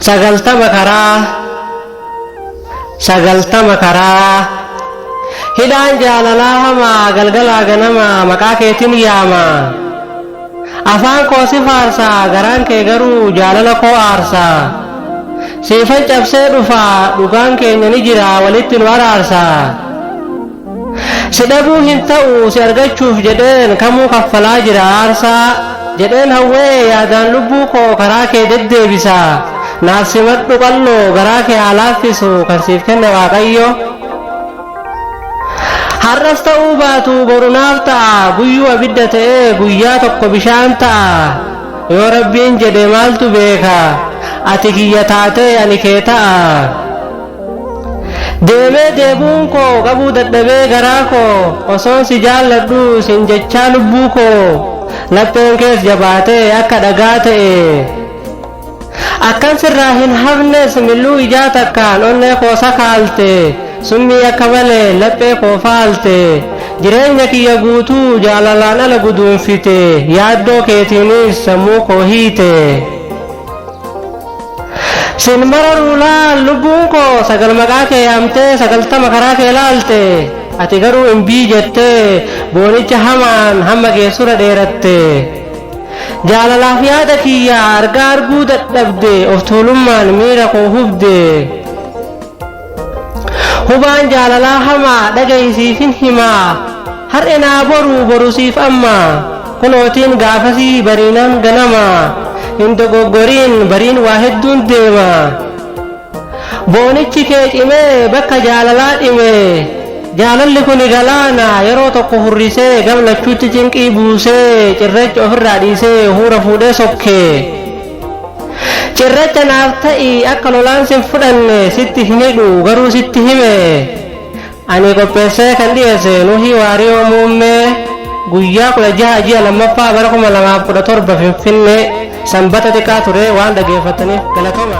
sagaltama karaa sagaltama karaa hidhaan jaalalaa hamaa galgalaa ganamaa maqaa keetiin yaamaa Afaan koo si faarsa, garaan kee garuu jaalala koo aarsa. Siifan cabsee dhufa, dhugaan keenya ni jira, walitti nu araarsa. Si dhabuu hin ta'u, si argachuuf jedheen kamuu kaffalaa jira aarsa. Jedheen hawwee yaadaan lubbuu koo karaa kee deddeebisa. Naaf simadhu qal'oo, garaa kee haa laaffisu kan siif kenne waaqayyo. Har'as ta'uu baatu boru naaf ta'a guyyuu abidda ta'ee guyyaa tokko bishaan ta'a yoo rabbiin jedhe maaltu beeka ati kiyya taatee ani kee ta'a deemee deebuun koo qabuu dadhabee garaa koo osoon si jaalladhu sin jechaa lubbuu koo lapheen kees jabaatee akka dhagaa ta'e Akkan sirraa hin hafnes milluu ijaa takkaan onnee koo sakaalte, summii akka malee laphee koo faalte, jireenya kiyya guutuu jaalalaan ala guduunfite, yaaddoo keetiinis sammuu koo hiite. Sin mararuu laal lubbuun koo sagal maqaa kee yaamtee sagaltama karaa kee laalte, ati garuu imbii jettee boonicha hamaan hamma geessura dheeratte. Jaalalaaf yaada kiyya argaa arguu dadhabde of tuulummaan miira koo hubde Hubaan jaalalaa hamaa dhagahi siifin himaa Har'e naa boruu boru siif amma kunootiin gaafasii bariinaan ganama Hin dogoggoriin bariin waa hedduun deema Boonichi kee cimee bakka jaalalaa dhimee Jaalalli kuni galaana yeroo tokko hurrisee Gam lachuutti cinqii buusee cirracha ofirraa dhiisee Huura fuudhee sokkee Cirracha naaf ta'i akka lolaan sin fudhanne Sitti hin hidhu garuu sitti hime Ani qopheessee kan dhiyeesse Nuhii Waariyoo Muummee guyyaa 16 ji'a 2ffaa bara 2017 Finfinnee Sanbata xiqqaa ture waan dhageeffattaniif galatoma.